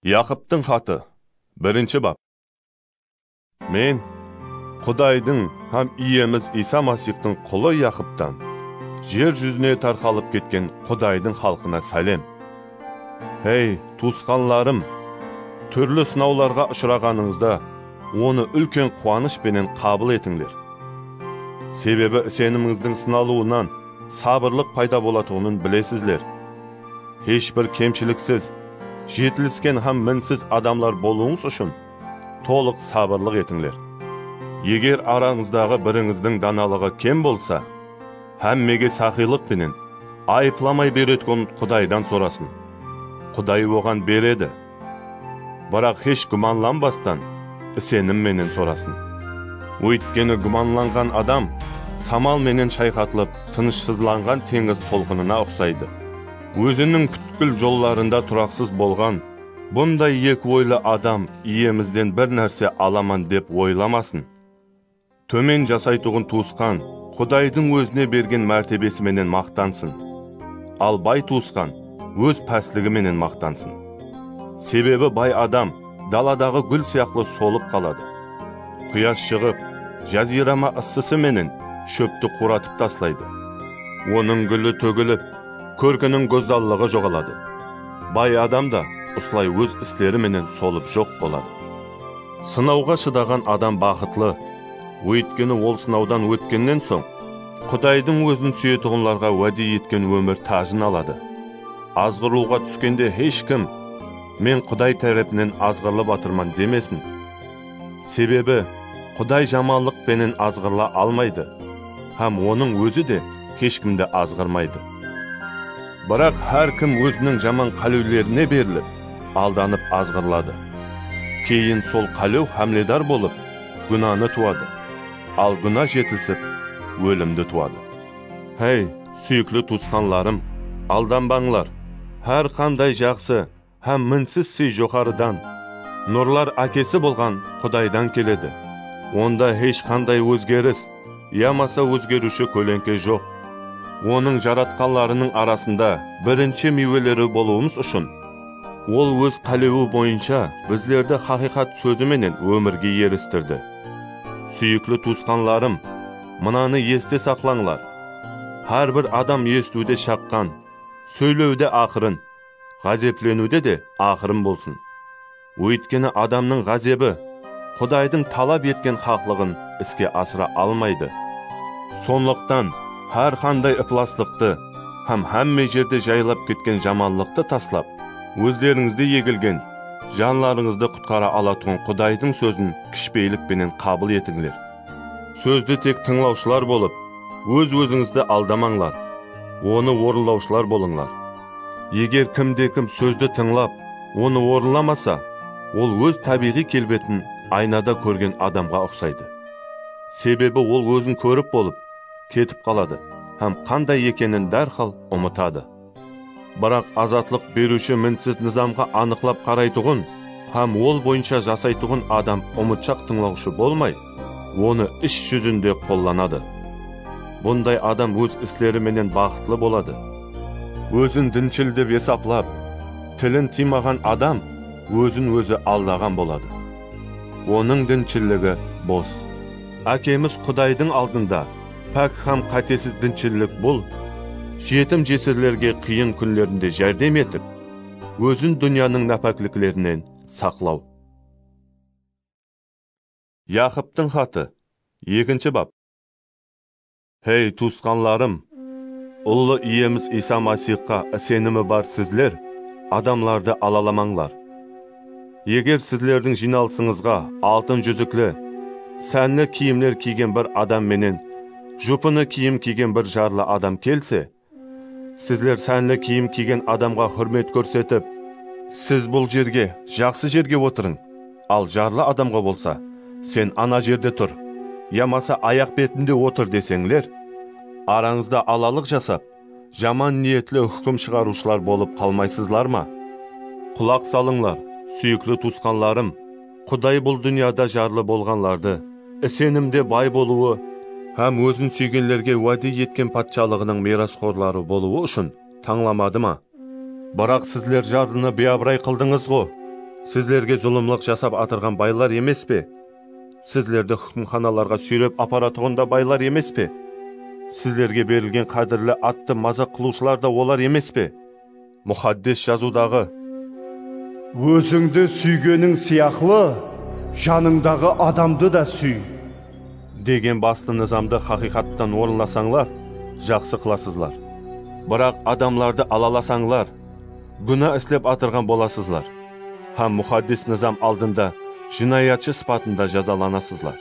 Yaqıptıń xatı, birinshi bap. Men, Qudaydıń hám Iyemiz Iysa Masixtıń qulı Yaqıptan, jer júzine tarqalıp ketken Qudaydıń xalqına sálem. Hey, tuwısqanlarım, túrli sınawlarǵa ushıraǵanıńızda, onı úlken quwanısh penen qabıl etińler. Sebebi isenimińizdiń sınalıwınan sabırlıq payda bolatuǵının bilesizler. Hesh bir kemshiliksiz, jetilisken hám minsiz adamlar bolıwıńız ushın tolıq sabırlıq etińler. Eger arańızdaǵı birińizdiń danalıǵı kem bolsa, hámmege saqıylıq penen, ayıplamay beretgun Qudaydan sorasın. Quday oǵan beredi. Biraq hesh gúmanlanbastan isenim menen sorasın. Óytkeni gúmanlanǵan adam samal menen shayqatılıp tınıshsızlanǵan teńiz tolqınına uqsaydı. Óziniń pútkil jollarında turaqsız bolǵan bunday eki oylı adam iyemizden bir nárse alaman dep oylamasın. Tómen jasaytuǵın tuwısqan Qudaydıń ózine bergen mártebesi menen maqtansın, al bay tuwısqan óz pásligi menen maqtansın. Sebebi bay adam daladaǵı gúl sıyaqlı solıp qaladı. Quyash shıǵıp, jazirama ıssısı menen shópti quratıp taslaydı. Onıń gúli tógilip, kórkiniń gózzallıǵı joǵaladı. Bay adam da usılay óz isleri menen solıp joq boladı. Sınawǵa shıdaǵan adam baxıtlı, óytkeni ol sınawdan ótkennen soń, Qudaydıń ózin súyetuǵınlarǵa wáde etken ómir tájin aladı. Azǵırılıwǵa túskende hesh kim, Men Quday tárepinen azǵırılıp atırman demesin. Sebebi Quday jamanlıq penen azǵırıla almaydı hám Onıń Ózi de hesh kimdi azǵırmaydı. Biraq hár kim óziniń jaman qálewlerine berilip, Aldanıp azǵırladı. Keyin sol qálew hámledar bolıp, gúnanı tuwadı. Al gúna jetisip, ólimdi tuwadı. Háy, súyikli tuwısqanlarım, aldanbańlar! Hár qanday jaqsı hám minsiz sıy joqarıdan, nurlar Ákesi bolǵan Qudaydan keledi. Onda hesh qanday ózgeris, yamasa ózgeriwshi kóleńke joq. Onıń jaratqanlarınıń arasında birinshi miyweleri bolıwımız ushın, Ol Óz qálewi boyınsha bizlerdi haqıyqat sózi menen ómirge eristirdi. Súyikli tuwısqanlarım, mınanı este saqlańlar, Hár bir adam esitiwde shaqqan, sóylewde aqırın, ǵázepleniwde de aqırın bolsın. Óytkeni adamnıń ǵázebi Qudaydıń talap etken haqlıǵın iske asıra almaydı. Sonlıqtan, hár qanday ıplaslıqtı hám hámme jerde jaylap ketken jamanlıqtı taslap, ózlerińizde egilgen, janlarıńızdı qutqara alatuǵın Qudaydıń sózin kishpeylik penen qabıl etińler. Sózdi tek tıńlawshılar bolıp, óz-ózińizdi aldamańlar, onı orınlawshılar bolıńlar. Eger kimde-kim sózdi tıńlap, onı orınlamasa, ol óz tábiyǵıy kelbetin aynada kórgen adamǵa uqsaydı. Sebebi ol ózin kórip bolıp, ketip qaladı hám qanday ekenin dárhal umıtadı. Biraq azatlıq beriwshi mintsiz nızamǵa anıqlap qaraytuǵın hám ol boyınsha jasaytuǵın adam umıtshaq tıńlawshı bolmay, Onı is júzinde qollanadı. Bunday adam óz isleri menen baxıtlı boladı. Ózin dinshil dep esaplap, tilin tıymaǵan adam ózin-ózi aldaǵan boladı. Onıń dinshilligi bos. Ákemiz Qudaydıń aldında pák hám qátesiz dinshillik bul, jetim-jesirlerge qıyın kúnlerinde járdem etip, ózin dúnyanıń nápákliklerinen saqlaw. Yaqıptıń xatı, ekinshi bap. Hey, tuwısqanlarım, Ullı Iyemiz Iysa Masixqa isenimi bar sizler adamlardı alalamańlar. Eger sizlerdiń jıynalısıńızǵa altın júzikli, sánli kiyimler kiygen bir adam menen jupını kiyim kiygen bir jarlı adam kelse, Sizler sánli kiyim kiygen adamǵa húrmet kórsetip. Siz bul jerge, jaqsı jerge otırıń, al jarlı adamǵa bolsa, Sen ana jerde tur, yamasa ayaq betinde otır deseńler, arańızda alalıq jasap, jaman niyetli húkim shıǵarıwshılar bolıp qalmaysızlar ma? Qulaq salıńlar, súyikli tuwısqanlarım! Quday bul dúnyada jarlı bolǵanlardı isenimde bay bolıwı hám Ózin súygenlerge wáde etken Patshalıǵınıń miyrasxorları bolıwı ushın tańlamadı ma? Biraq sizler jarlını biyabıray qıldıńız-ǵo! Sizlerge zulımlıq jasap atırǵan baylar emes pe? Sizlerdi húkimxanalarǵa súyrep aparatuǵın da baylar emes pe? Sizlerge berilgen qádirli attı mazaq qılıwshılar da olar emes pe? Muxaddes Jazıwdaǵı. Ózińdi súygeniń sıyaqlı, janıńdaǵı adamdı da súy. Degen bastı nızamdı haqıyqattan orınlasańlar, jaqsı qılasızlar. Biraq adamlardı alalasańlar, gúna islep atırǵan bolasızlar hám Muxaddes nızam aldında jınayatshı sıpatında jazalanasızlar.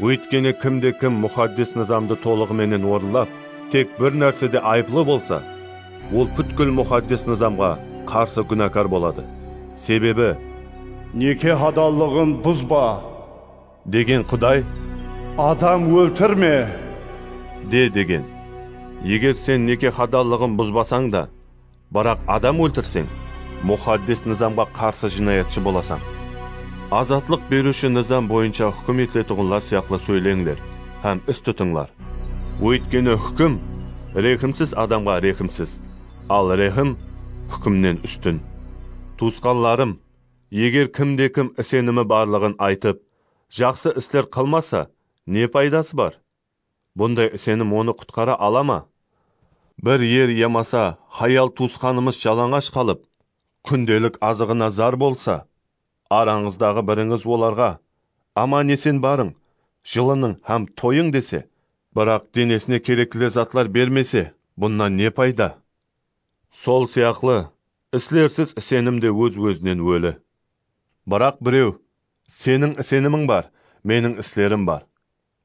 Óytkeni kimde-kim Muxaddes Nızamdı tolıǵı menen orınlap, tek bir nársede ayıplı bolsa, ol pútkil Muxaddes Nızamǵa qarsı gúnakar boladı. Sebebi. Neke hadallıǵın buzba. Degen Quday. Adam óltirme. De degen. Eger sen neke hadallıǵın buzbasań da. Biraq adam óltirseń, muxaddes nızamǵa qarsı jınayatshı bolasań. Azatlıq beriwshi nızam boyınsha húkim etiletuǵınlar sıyaqlı sóyleńler hám is tutıńlar. Óytkeni húkim rehimsiz adamǵa rehimsiz, al rehim húkimnen ústin. Tuwısqanlarım, eger kimde-kim isenimi barlıǵın aytıp, jaqsı isler qılmasa, ne paydası bar? Bunday isenim onı qutqara ala ma? Bir er yamasa hayal tuwısqanımız jalańash qalıp, kúndelik azıǵına zar bolsa, arańızdaǵı birińiz olarǵa, Aman-esen barıń, jılınıń hám toyıń dese, biraq denesine kerekli zatlar bermese, bunnan ne payda? Sol sıyaqlı, islersiz isenim de óz-ózinen óli. Biraq birew, Seniń isenimiń bar, meniń islerim bar.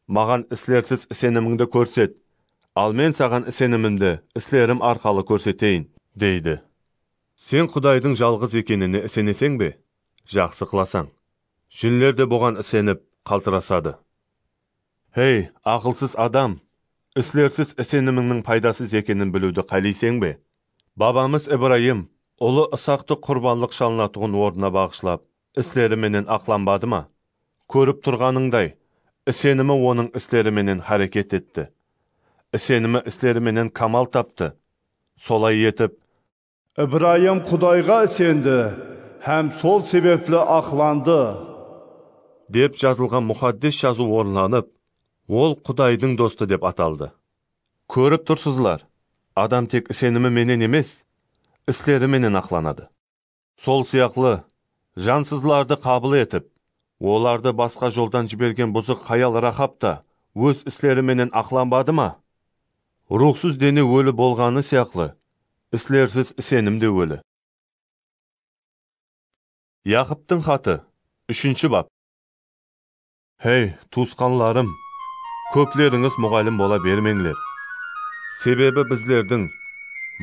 Maǵan islersiz isenimińdi kórset, al Men saǵan isenimimdi islerim arqalı kórseteyin, deydi. Sen Qudaydıń jalǵız ekenine iseneseń be? Jaqsı qılasań. Jinler de buǵan isenip, qaltırasadı. Hey, aqılsız adam! Islersiz isenimińniń paydasız ekenin biliwdi qáleyseń be? Babamız Ibrayım ulı Isaqtı qurbanlıq shalınatuǵın ornına baǵıshlap, Isleri menen aqlanbadı ma? Kórip turǵanıńday, isenimi Onıń isleri menen háreket etti. Isenimi isleri menen kamal taptı. Solay etip. Ibrayım Qudayǵa isendi hám sol sebepli aqlandı. Dep jazılǵan Muxaddes Jazıw orınlanıp, ol Qudaydıń dostı dep ataldı. Kórip tursızlar, adam tek isenimi menen emes, isleri menen aqlanadı. Sol sıyaqlı, jansızlardı qabıl etip, olardı basqa joldan jibergen buzıq hayal Raxab ta óz isleri menen aqlanbadı ma? Ruwxsız dene óli bolǵanı sıyaqlı, islersiz isenim de óli. Yaqıptıń xatı, úshinshi bap. Hey, tuwısqanlarım, kóplerińiz muǵallim bola bermeńler. Sebebi bizlerdiń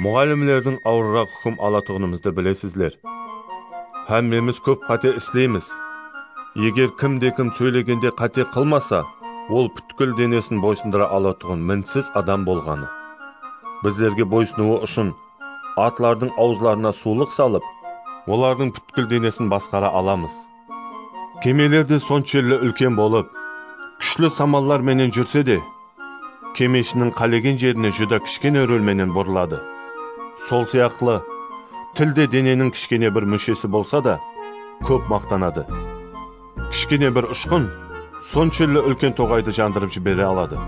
muǵallimlerdiń awırıraq húkim alatuǵınımızdı bilesizler. Hámmemiz kóp qáte isleymiz. Eger kimde-kim sóylegende qáte qılmasa, ol pútkil denesin boysındıra alatuǵın minsiz adam bolǵanı. Bizlerge boysınıwı ushın atlardıń awızlarına suwlıq salıp, olardıń pútkil denesin basqara alamız. Kemeler de sonshelli úlken bolıp, kúshli samallar menen júrse de, kemeshiniń qálegen jerine júdá kishkene rúl menen burıladı. Sol sıyaqlı, til de deneniń kishkene bir múshesi bolsa da, kóp maqtanadı. Kishkene bir ushqın sonshelli úlken toǵaydı jandırıp jibere aladı.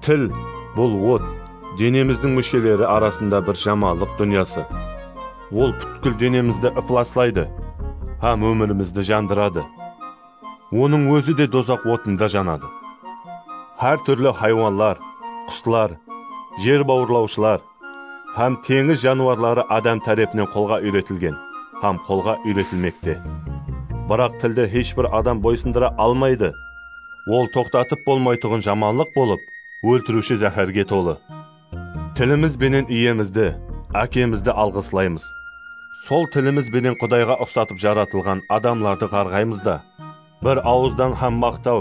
Til, bul ot, denemizdiń músheleri arasında bir jamanlıq dúnyası. Ol pútkil denemizdi ıplaslaydı hám ómirimizdi jandıradı. Onıń ózi de dozaq otında janadı. Hár túrli haywanlar, quslar, jer bawırlawshılar hám teńiz janıwarları adam tárepinen qolǵa úyretilgen hám qolǵa úyretilmekte. Biraq tildi hesh bir adam boysındıra almaydı. Ol toqtatıp bolmaytuǵın jamanlıq bolıp, óltiriwshi záhárge tolı. Tilimiz benen Iyemizdi, Ákemizdi alǵıslaymız. Sol tilimiz benen Qudayǵa uqsatıp jaratılǵan adamlardı ǵarǵaymız da, bir awızdan hám maqtaw,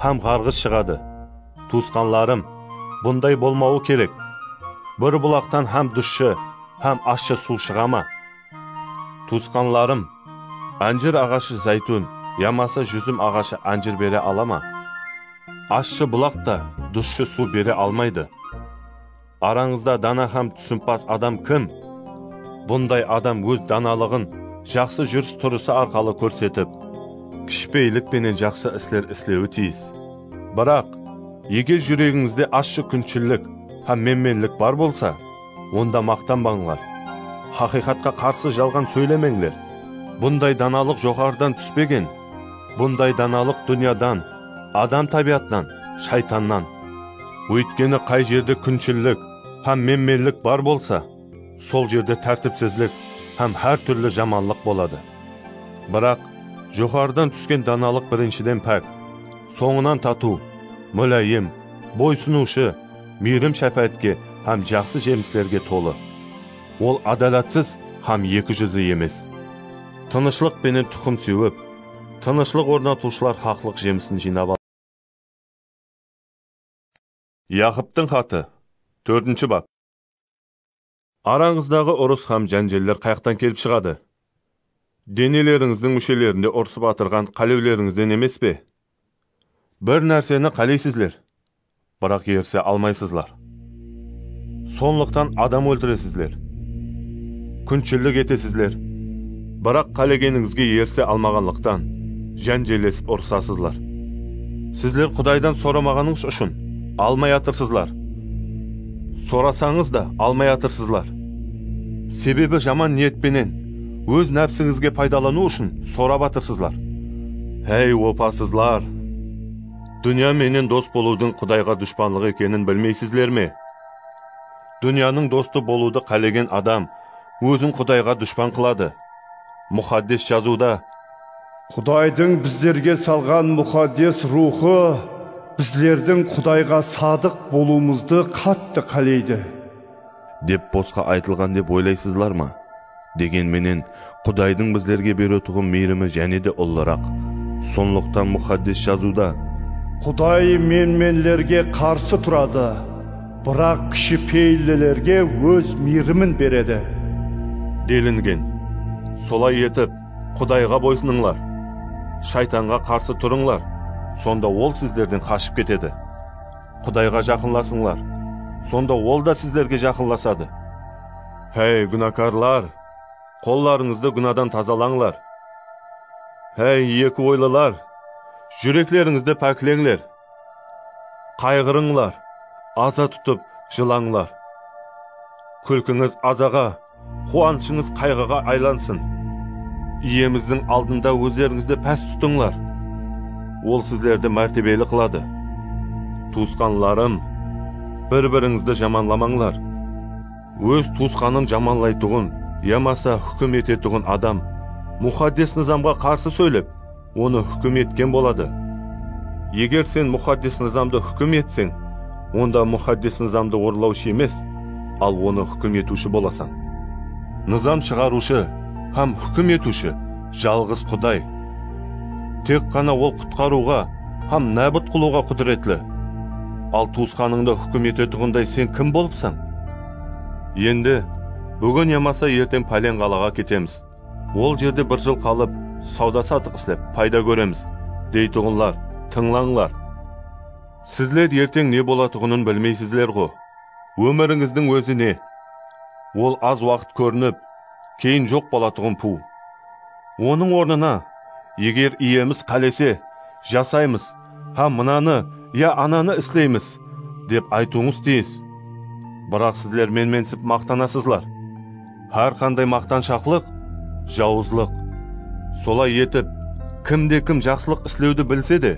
hám ǵarǵıs shıǵadı. Tuwısqanlarım, bunday bolmawı kerek! Bir bulaqtan hám dushshı, hám ashshı suw shıǵa ma? Tuwısqanlarım, ánjir aǵashı záytún yamasa júzim aǵashı ánjir bere ala ma? Ashshı bulaq ta dusshı suw bere almaydı. Arańızda dana hám túsimpaz adam kim? Bunday adam óz danalıǵın jaqsı júris-turısı arqalı kórsetip, kishipeylik penen jaqsı isler islewi tiyis. Biraq, eger júregińizde ashshı kúnshillik hám menmenlik bar bolsa, onda maqtanbańlar. Haqıyqatqa qarsı jalǵan sóylemeńler. Bunday danalıq joqarıdan túspegen, bunday danalıq dúnyadan, adam tábiyatınan, shaytannan. Óytkeni qay jerde kúnshillik hám menmenlik bar bolsa, sol jerde tártipsizlik hám hár túrli jamanlıq boladı. Biraq, joqarıdan túsken danalıq birinshiden pák, sońınan tatıw, múláyim, boysınıwshı, miyrim-shápáátke hám jaqsı jemislerge tolı. Ol ádalatsız hám eki júzli emes. Tınıshlıq penen tuqım sewip, tınıshlıq ornatıwshılar haqlıq jemisin jıynap aladı. Yaqıptıń xatı, tórtinshi bap. Arańızdaǵı urıs hám jánjeller qayaqtan kelip shıǵadı? Denelerińizdiń múshelerinde urısıp atırǵan qálewlerińizden emes pe? Bir nárseni qáleysizler, biraq erise almaysızlar. Sonlıqtan adam óltiresizler. Kúnshilik etesizler, biraq qálegenińizge erise almaǵanlıqtan, jánjellesip urısasızlar. Sizler Qudaydan soramaǵanıńız ushın, almay atırsızlar. Sorasańız da almay atırsızlar. Sebebi jaman niyet penen, óz nápsińizge paydalanıw ushın sorap atırsızlar. Háy, opasızlar! Dúnya menen dos bolıwdıń Qudayǵa dushpanlıq ekenin bilmeysizler me? Dúnyanıń dostı bolıwdı qálegen adam ózin Qudayǵa dushpan qıladı. Muxaddes Jazıwda. Qudaydıń bizlerge salǵan Muxaddes Ruwxı bizlerdiń Qudayǵa sadıq bolıwımızdı qattı qáleydi. Dep bosqa aytılǵan dep oylaysızlar ma? Degen menen, Qudaydıń bizlerge beretuǵın miyrimi jáne de ullıraq. Sonlıqtan Muxaddes Jazıwda. Quday menmenlerge qarsı turadı. Biraq kishipeyillilerge Óz miyrimin beredi. Delingen. Solay etip, Qudayǵa boysınıńlar, Shaytanǵa qarsı turıńlar, sonda ol sizlerden qashıp ketedi. Qudayǵa jaqınlasıńlar, sonda Ol da sizlerge jaqınlasadı. Háy, gúnakarlar, qollarıńızdı gúnadan tazalańlar! Háy, eki oylılar, júreklerińizdi pákleńler! Qayǵırıńlar, aza tutıp jılańlar. Kúlkińiz azaǵa, quwanıshıńız qayǵıǵa aylansın. Iyemizdiń aldında ózlerińizdi pás tutıńlar, Ol sizlerdi mártebeli qıladı. Tuwısqanlarım, bir-birińizdi jamanlamańlar. Óz tuwısqanın jamanlaytuǵın yamasa húkim etetuǵın adam Muxaddes Nızamǵa qarsı sóylep, Onı húkim etken boladı. Eger sen Muxaddes Nızamdı húkim etseń, onda Muxaddes Nızamdı orınlawshı emes, al onı húkim etiwshi bolasań. Nızam shıǵarıwshı hám húkim etiwshi jalǵız Quday. Tek ǵana Ol qutqarıwǵa hám nábıt qılıwǵa qúdiretli. Al tuwısqanıńdı húkim etetuǵınday sen kim bolıpsań? Endi, búgin yamasa erteń páleń qalaǵa ketemiz. Ol jerde bir jıl qalıp, sawda-satıq islep, payda kóremiz, deytuǵınlar, tıńlańlar! Sizler erteń ne bolatuǵının bilmeysizler-ǵo! Ómirińizdiń ózi ne? Ol az waqıt kórinip, keyin joq bolatuǵın puw. Onıń ornına, eger Iyemiz qálese, jasaymız, hám mınanı ya ananı isleymiz, dep aytıwıńız tiyis. Biraq sizler menmensip maqtanasızlar. Hár qanday maqtanshaqlıq, jawızlıq. Solay etip, kimde-kim jaqsılıq islewdi bilse de,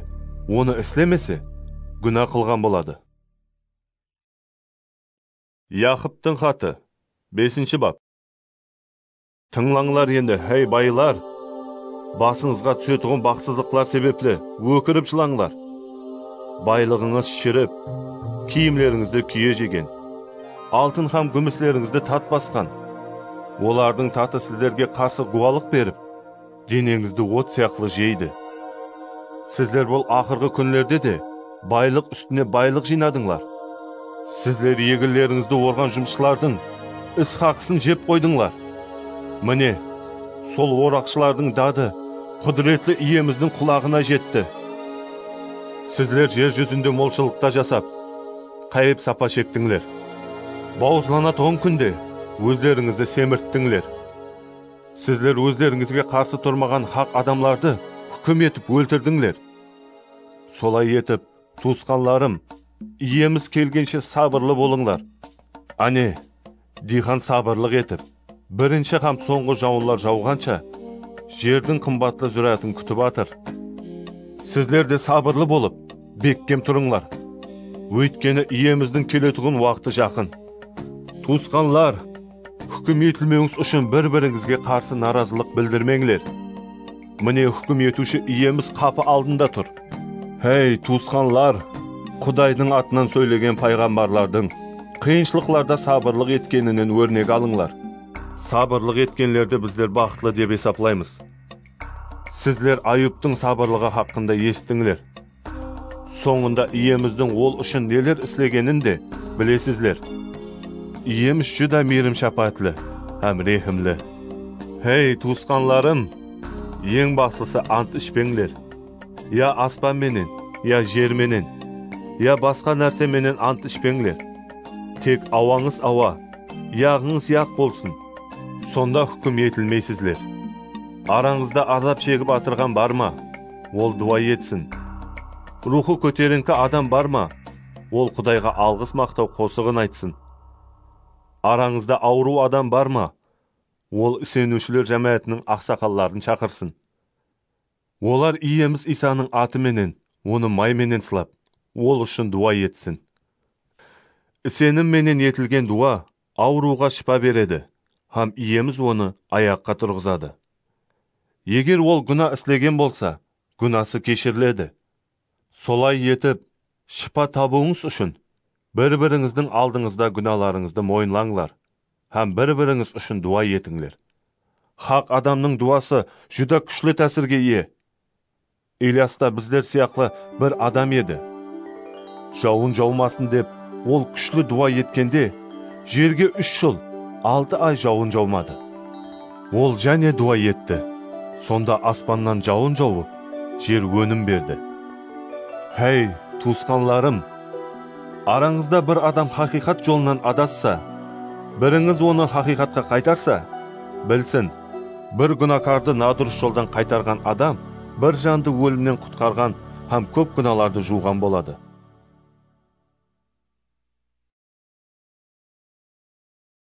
onı islemese, gúna qılǵan boladı. Yaqıptıń xatı, besinshi bap. Tıńlańlar endi, háy, baylar! Basıńızǵa túsetuǵın baxıtsızlıqlar sebepli ókirip jılańlar. Baylıǵıńız shirip, kiyimlerińizdi kúye jegen, altın hám gúmislerińizdi tat basqan, olardıń tatı sizlerge qarsı gúwalıq berip, Deneńizdi ot sıyaqlı jeydi. Sizler bul aqırǵı kúnlerde de baylıq ústine baylıq jıynadıńlar. Sizler eginlerińizdi orǵan jumısshılardıń is haqısın jep qoydıńlar. Mine, sol oraqshılardıń dadı Qúdiretli Iyemizdiń qulaǵına jetti. Sizler jer júzinde molshılıqta jasap, qáyip-sapa shektińler. Bawızlanatuǵın kúnde ózlerińizdi semirttińler. Sizler ózlerińizge qarsı turmaǵan haq adamlardı húkim etip óltirdińler. Solay etip, tuwısqanlarım, Iyemiz kelgenshe sabırlı bolıńlar. Áne, diyqan sabırlıq etip, birinshi hám sońǵı jawınlar jawǵansha, jerdiń qımbatlı zúrátin kútip atır. Sizler de sabırlı bolıp, Bekkem turıńlar, óytkeni Iyemizdiń keletuǵın waqtı jaqın. Tuwısqanlar, húkim etilmewińiz ushın bir-birińizge qarsı narazılıq bildirmeńler. Mine, húkim etiwshi Iyemiz qapı aldında tur. Hey, tuwısqanlar, Qudaydıń atınan sóylegen payǵambarlardıń qıyınshılıqlarda sabırlıq etkeninen órnek alıńlar. Sabırlıq etkenlerdi bizler baxıtlı dep esaplaymız. Sizler Ayubtıń sabırlıǵı haqqında esittińler. Sońında Iyemizdiń ol ushın neler islegenin de bilesizler. Iyemiz júdá miyrim-shápáátli hám rehimli. Hey, tuwısqanlarım, eń baslısı ant ishpeńler. Ya aspan menen, ya jer menen, ya basqa nárse menen ant ishpeńler. Tek awańız awa, yaǵıńız yaq bolsın. Sonda húkim etilmeysizler. Arańızda azap shegip atırǵan bar ma? Ol duwa etsin. Ruwxı kóterińki adam bar ma? Ol Qudayǵa alǵıs-maqtaw qosıǵın aytsın. Arańızda awırıw adam bar ma? Ol iseniwshiler jámáátiniń aqsaqalların shaqırsın. Olar Iyemiz Iysanıń atı menen, Onı may menen sılap, Ol ushın duwa etsin. Isenim menen etilgen duwa Awırıwǵa shıpa beredi hám Iyemiz onı ayaqqa turǵızadı. Eger ol gúna islegen bolsa, gúnası keshiriledi. Solay etip, shıpa tabıwıńız ushın, bir-birińizdiń aldıńızda gúnalarıńızdı moyınlańlar hám bir-birińiz ushın duwa etińler. Haq adamnıń duwası júdá kúshli tásirge iye. Iliyas ta bizler sıyaqlı bir adam edi. Jawın jawmasın dep ol kúshli duwa etkende, jerge úsh jıl, altı ay jawın jawmadı. Ol jáne duwa etti, sonda aspannan jawın jawıp, jer ónim berdi. Háy, tuwısqanlarım! Arańızda bir adam haqıyqat jolınan adassa, birińiz onı haqıyqatqa qaytarsa, bilsin, Bir gúnakardı nadurıs joldan qaytarǵan adam bir jandı ólimnen qutqarǵan hám kóp gúnalardı juwǵan boladı.